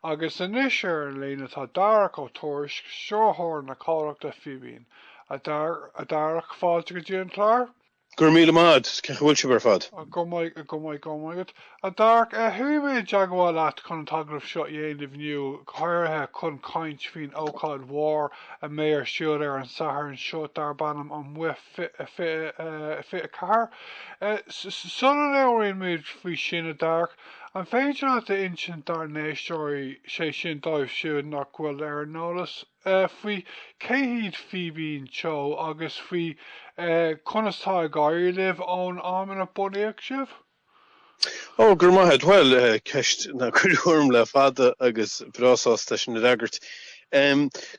Agus anois ar an líne tá Darach Ó Tuairisg, Stiúrthóir an chomhlachta Fíbín. A Dharach, fáilte go dtí an clár. Go raibh míle maith a'd. Cén chaoi a bhfuil sibh ar fad? Go maith, go maith, go raibh maith a'd. A Dharach, chuaigh mé i dteagmháil leat chun an t-agallamh seo a dhéanamh inniu, go háirithe chun caint faoin ócáid mhór a bheidh ar siúl ar an Satharn seo darb ainm Amuigh 24. Sula labhraíonn muid faoi sin, a Dharach, An féidir leat a insint dár n-éisteoirí, sé sin dóibh siúd nach bhfuil ar an eolas, faoi cé hiad Fíbín Teo agus faoi conas tá ag éirí libh ón am inar bunaíodh sibh? Oh, go raibh maith agat. Bhuel, ceist nár cuireadh orm le fada agus mé breá sásta é sin a fhreagairt.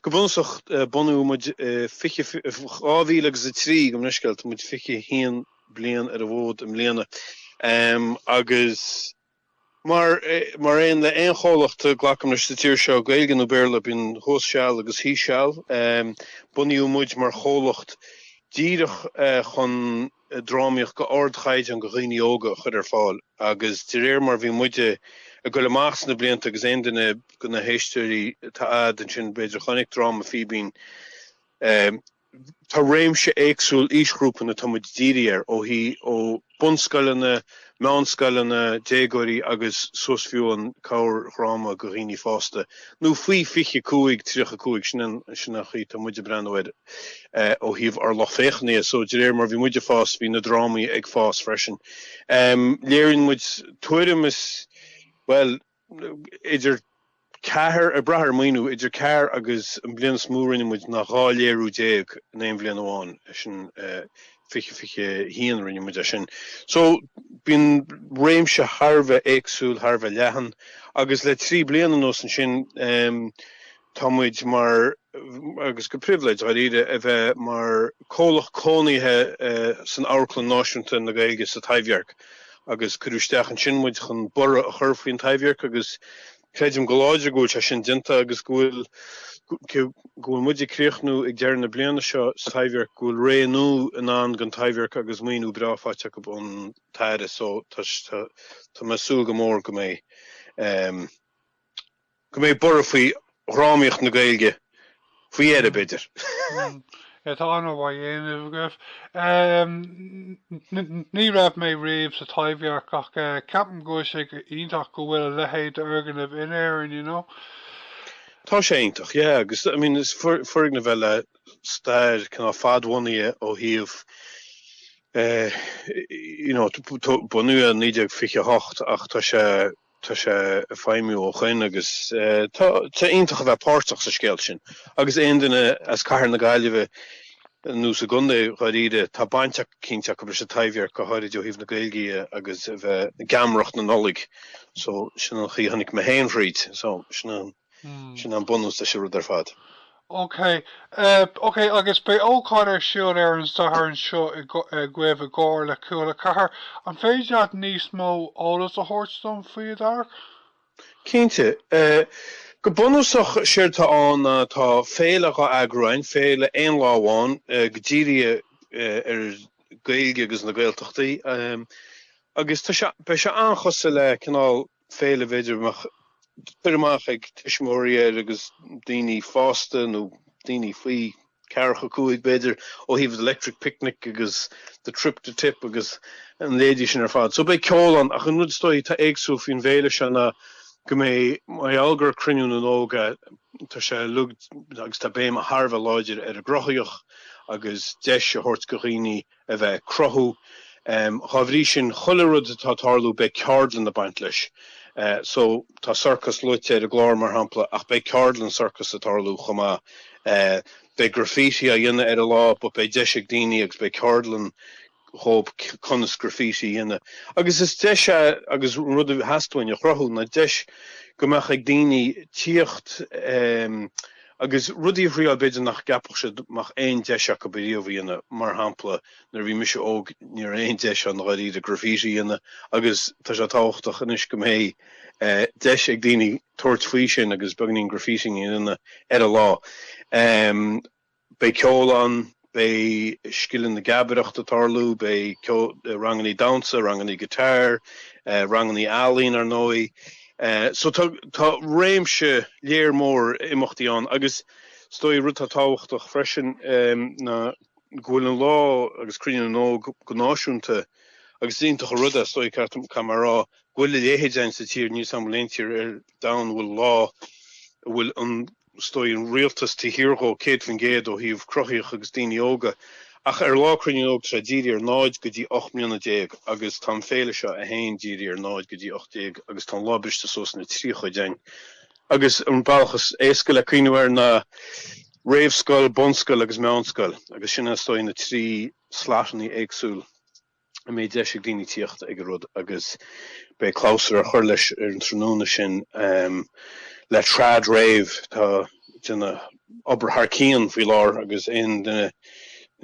Go bunúsach, bunaíodh muid fiche, 2003, gabh mo leithscéal, tá muid 21 bliain ar an bhfód i mbliana agus mar, mar aon le aon chomhlacht, glacaim leis sa tír seo, Gaeilge nó Béarla, bíonn thuas seal agus thíos seal. Bunaíodh muid mar chomhlacht díreach chun drámaíocht go ardchaighdeán go dhaoine óga a chur ar fáil agus de réir mar bhí muide ag goil amach sna blianta agus aon duine go na héisteoirí atá a'd ansin b'fhéidir chonaic dráma Fíbín Tá réimse éagsúil aoisghrúpanna atá muid dírithe air, ó thaobh ó bunscoileanna, meánscoileanna, déagóirí agus suas fiú an corrdhráma go dhaoine fásta nó faoi 25, 35, sin an sin an chaoi atá muid ag breathnú air ó thaobh ár lucht féachana de. So de réir mar bhí muid ag fás bhí na drámaí ag fás freisin. Léiríonn muid tuairim is, bhuel, idir ceathair, ag brath ar an maoiniú, idir ceathair agus an bhliain is mó a rinne muid ná dhá léiriú déag in aon bhliain amháin, sin é fiche fiche a haon a rinne muid é sin. So, bíonn réimse thar a bheith éagsúil, thar a bheith leathan, agus le trí bliana anuas ansin, Tá muid mar, agus de phribhléid dáiríre a bheith mar chomhlacht cónaithe san Amharclann Náisiúnta na Gaeilge sa Taibhdhearc agus cuireadh isteach ansin muid chun borradh a chur faoin Taibhdhearc agus creidim go láidir go bhfuil sé sin déanta agus go bhfuil, go bhfuil muid ag críochnú ag deireadh na bliana seo sa Taibhdhearc, go bhfuil ré nua i ndán don Taibhdhearc agus maoiniú breá faighte acu ón Aire so tá mé ag súil go mór go mbeidh. go mbeidh borradh faoi dhrámaíocht na Gaeilge faoi dheireadh, b'fhéidir. Tá an-obair á déanamh agaibh. Ní raibh mé riamh sa Taibhdhearc ach ceapaim go bhfuil sé go h-iontach go bhfuil a leithéid d'fhoirgneamh in Éirinn, you know. Tá sé iontach, yeah, agus, I mean, is foirgneamh é le stair cineál fad-bhunaithe ó thaobh eh, you know, bunaíodh é i 1928 ach tá sé, Tá sé ag feidhmiú ó shoin agus tá sé iontach a bheith páirteach sa scéal sin. Agus aon duine as cathair na Gaillimhe nó sa gcontae dháiríre, tá baint eicínt acu leis an Taibhdhearc, go háirid ó thaobh na Gaeilge dhe agus a bheith i ngeamaireacht na Nollaig. So sin an chaoi a tháinig mé féin thríd. So sin an. Sin an bunús leis an rud ar fad. Ok. Ok, agus beidh ócáid ar siúl ar an Satharn seo agaibh i gcomhar le Cúl a Ceathair. An féidir leat níos mó eolas a thabhairt dom faoi a Dharach? Cinnte. Go bunúsach, séard atá ann ná tá féile dhá eagrú ann, féile aon lá amháin atá dírithe ar Gaeilge agus na Gaeltachtaí, agus tá sé, beidh sé an-chosúil le cineál féile b'fhéidir a mbeadh cur amach ag tuismitheoirí air agus daoine fásta nó daoine faoi cheathracha cúig b'fhéidir ó thaobh The Electric Picnic agus The Trip to Tipp agus a leithéidí sin ar fad. So beidh ceol ann ach an rud is dóigh atá éagsúil faoin bhféile seo ná go mbeidh mar gheall gur Cruinniú na nÓg atá sé uilig agus tá béim thar a bheith láidir ar an gcruthaíocht agus deis a thabhairt do dhaoine a bheith ag cruthú. Dhá bhrí sin chuile rud atá ag tarlú beidh ceardlann ag baint leis. So tá circus luaite ar an gclár mar shampla ach beidh ceardlann circus ag tarlú chomh maith. Beidh graffiti á dhéanamh ar an lá but beidh deis ag daoine agus beidh ceardlann dhób conas graffiti a dhéanamh agus is deis é agus an rud a theastaíonn uainn a chruthú ná deis go mbeadh ag daoine tíocht Agus rudaí a thriáil b'fhéidir nach gceapfadh siad go mbeadh aon deis acu ariamh a dhéanamh, mar shampla nuair a bhí mise óg ní raibh aon deis ann dháiríre graffiti a dhéanamh agus tá sé tábhachtach anois go mbeidh deis ag daoine tabhairt faoi sin agus beagainín graffitting a dhéanamh ar an lá. Beidh ceol ann. Beidh scileanna na geamaireachta ag tarlú, beidh rangannaí damhsa, rangannaí guitar, rangannaí ealaín ar ndóigh. So tá réimse ollmhór imeachtaí ann agus is dóigh rud atá tábhachtach freisin ná go bhfuil an lá agus Cruinniú na nÓg go náisiúnta agus is iontach an rud é, is dóigh, ceart go leor caithfidh mé a rá, go bhfuil a leithéid ann sa tír, níl samplaí in aon tír ar domhan a bhfuil lá a bhfuil an is dóigh an rialtas taobh thiar dhó, 100% ó thaobh cruthaíocht agus daoine óga, ach ar lá Cruinniú na nÓg tá sé dírithe ar 0 go dtí 18 mbliana agus tá an féile seo againn dírithe ar 0 go dtí 18 agus tá an lá briste suas ina trí chuid againn agus an bealach is éasca le cuimhniú air ná réamhscoil, bunscoil agus meánscoil agus sin is dóigh na trí slotannaí éagsúil. a mbeidh deis ag daoine tíocht ag an rud agus beidh clabhsúr á chur leis ar an tráthnóna sin le trad rave atá déanamh obair thar cionn faoi láthair agus aon duine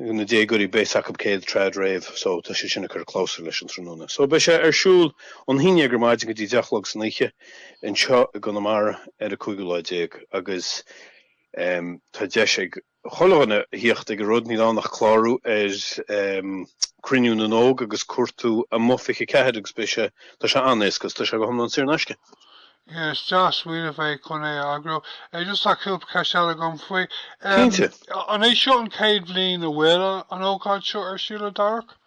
de na déagóirí beidh a fhios acu céard trad rave so tá sé sin a chur clabhsúr leis an tráthnóna. So beidh sé ar siúl ón haon dhéag ar maidin go dtí deich a chlog san oíche anseo i gConamara ar an cúigiú lá déag agus tá deis ag chuile dhuine a thíocht ag an rud, níl ann ach clárú ar Cruinniú na nÓg agus cuartú amuigh 24 agus beidh sé, tá sé an-éasca agus tá sé go hiomlán saor in aisce. Yeah, is deas smaoineamh é chun é a eagrú. Eh, just tá cúpla ceist eile agam faoi. Cinnte. An é seo an chéad bhliain a bhfuil an ócáid seo ar siúl a Darach?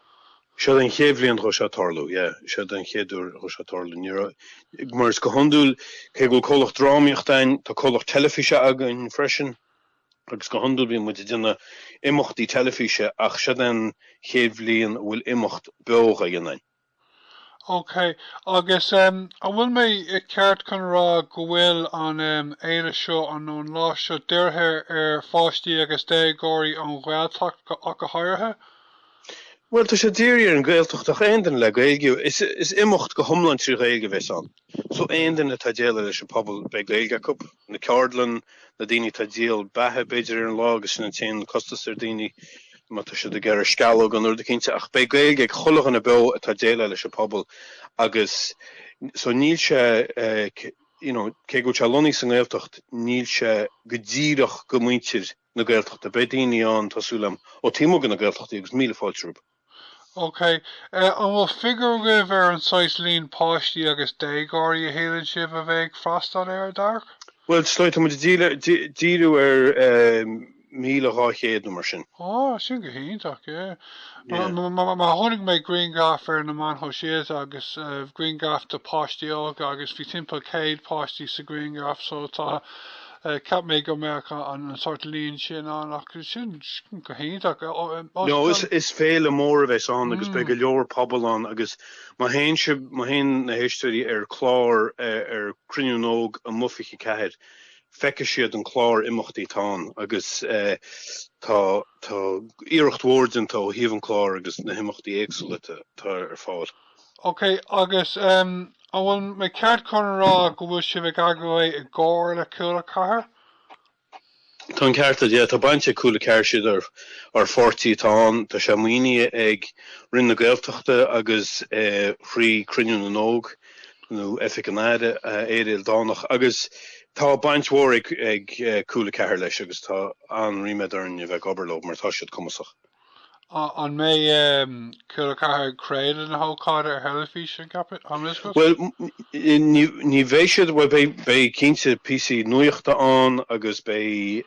Seo an chéad bhliain dhó seo tarlú, yeah. Seo an chéad uair dhó seo tarlú. Ní raibh, mar is go hiondúil, cé go bhfuil comhlacht drámaíochta againn, tá comhlacht teilifíse againn freisin. agus go hiondúil bíonn muid ag déanamh imeachtaí teilifíse ach seod é an chéad bhliain a bhfuil imeacht beo dhá dhéanamh againn. Ok, agus an bhfuil mé ceart chun a rá go bhfuil an fhéile seo, nó an lá seo, dírithe ar pháistí agus déagóirí ón Ghaeltacht ach go háirithe? Bhuel, tá sé dírithe ar an Ghaeltacht ach aon duine le Gaeilge, is imeacht go hiomlán trí Ghaeilge a bheas ann. Só aon duine atá déileáil leis an pobal beidh Gaeilge acu. Na ceardlann, na daoine atá díol beatha b'fhéidir ar an lá agus sin an t-aon costas ar daoine má tá siad ag iarraidh sceallóga nó rud cinnte ach beidh Gaeilge ag chuile dhuine beo atá déileáil leis an pobal agus só níl sé you know cé go bhfuil sé lonnaithe sa nGaeltacht níl sé go díreach do mhuintir na Gaeltachta. Beidh daoine ann tá súil agam ó taobh amuigh de na Gaeltachtaí agus míle fáilte rompu. OK. An bhfuil figiúr agaibh ar an saghas líon páistí agus déagóirí a shíleann sibh a bheidh ag freastal air, a Darach? Bhuel, is dóigh, tá muid ag díriú ar 1,200 nó mar sin. Ó, sin go hiontach, yeah. Mar chonaic mé grianghraf ar na meáin shóisialta agus grianghraf de páistí óga agus bhí timpeall 100 páistí sa ghrianghraf so tá, Cheap mé go mbeadh an sórt líon sin ann ach sin go hiontach. No, is féile mór a bheas ann agus beidh go leor pobal ann agus má théann sibh, má théann na héisteoirí ar chlár ar Cruinniú na nÓg Amuigh 24, feicfidh siad an clár imeachtaí atá ann agus tá iarracht mhór déanta ó thaobh an clár agus na himeachtaí éagsúla atá ar fáil. Ok, agus em, an bhfuil mé ceart chun a rá go bhfuil sibh ag eagrú é i gcomhar le Cúla Ceathair? Tá an ceart agat, yeah, tá baint ag Cúla Ceathair siad ár pháirtí atá ann, tá sé maoinithe ag Roinn na Gaeltachta agus eh, thrí Cruinniú na nÓg nó Oifig an Aire, eh, Éire Ildánach agus tá baint mhór ag, ag eh, Cúla Ceathair leis agus tá an-ríméad orainn a bheith ag obair leo mar tá siad cumasach. An mbeidh Cúla 4 ag craoladh na hócáide ar theilifís an Chaipitleachais? Bhuel, ní bheidh siad, bhuel beidh cinnte píosaí nuachta ann agus beidh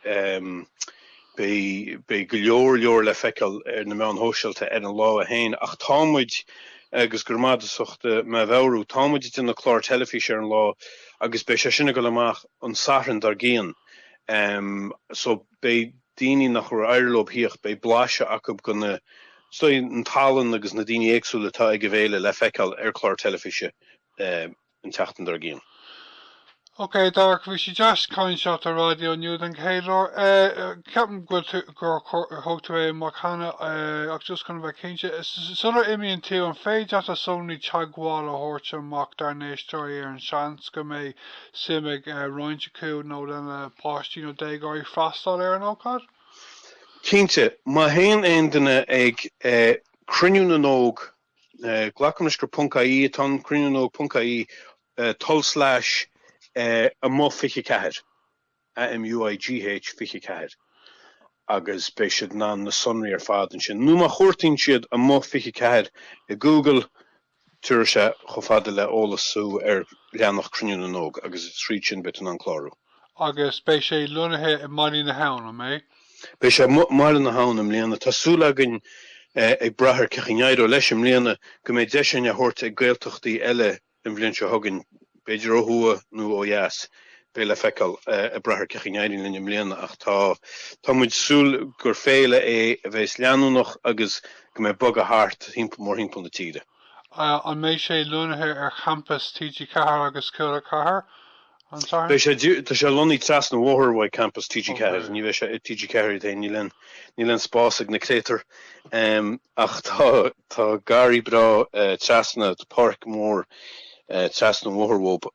go leor leor le feiceáil ar na meáin shóisialta ar an lá féin ach tá muid, agus go raibh maith agat as ucht mé a mheabhrú, tá muid ag déanamh clár teilifíse ar an lá agus beidh sé sin ag dul amach an Satharn dár gcionn so beidh daoine nachar éirigh leo a theacht, beidh blaiseadh acu de na, den tallann agus na daoine éagsúla atá ag an bhféile le feiceáil ar chlár teilifíse an tseachtain dár gcionn. Ok Darach, bhí sé deas caint leat ar raidió inniu den chéad uair. Ceapaim go bhfuil tú, gur thug tú é amach cheana ach just chun a bheith cinnte, sular imíonn tú, an féidir leat na sonraí teagmhála a thabhairt amach dár n-éisteoirí ar an seans go mbeidh suim ag roinnt acu nó lena bpáistí nó déagóirí freastal ar an ócáid? Cinnte, má théann aon duine ag Cruinniú na nÓg, glacaim leis gur ponc-IE atá ann, cruinniú na nÓg ponc-IE, tulslais, amuigh 24. A M U I G H 24 agus beidh siad in ann na sonraí ar fad ansin nó má chuartaíonn siad amuigh 24 i Google tiúrfaidh sé chomh fada le eolas thú ar leathnach Cruinniú na nÓg agus thríd sin beidh tú in ann clárú. Agus beidh sé lonnaithe i mBaile na hAbhann, an mbeidh? Beidh sé i mBaile na hAbhann i mbliana. Tá súil againn, ag brath ar cé chaoi a n-éireoidh leis i mbliana, go mbeidh deis ann é a thabhairt ag Gaeltachtaí eile An bhliain seo chugainn, b'fhéidir ó thuaidh nó ó dheas, beidh le feiceáil. Ag brath ar cé chaoi a n-éiríonn linn i mbliana ach tá tá muid ag súil gur féile é a bheas leanúnach agus go mbeidh bogadh thart mórthimpeall na tíre. An mbeidh sé lonnaithe ar champas TG4 agus Cúla 4? Beidh sé, tá sé lonnaithe trasna an bhóthair uaidh campas TG4. Ní bheidh sé i TG4 iad féin, níl aon spás ag na créatúir. Ach tá garraí breá trasna, tá páirc mhór trasna an bhóthair uathu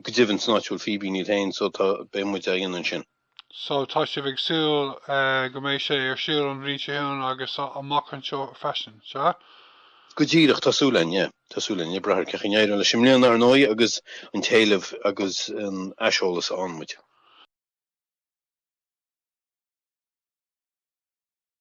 go deimhin san áit a bhfuil Fíbín iad féin so tá, beidh muid á dhéanamh ansin. so tá sibh ag súil go mbeidh sé ar siúl an bhliain seo chugainn agus amach anseo freisin, sea? Go díreach, tá súil againn, yeah, tá súil againn. Ag brath ar cé chaoi a n-éireoidh leis i mbliana, ar ndóigh, agus an t-éileamh agus an aiseolas a fhaigheann muid.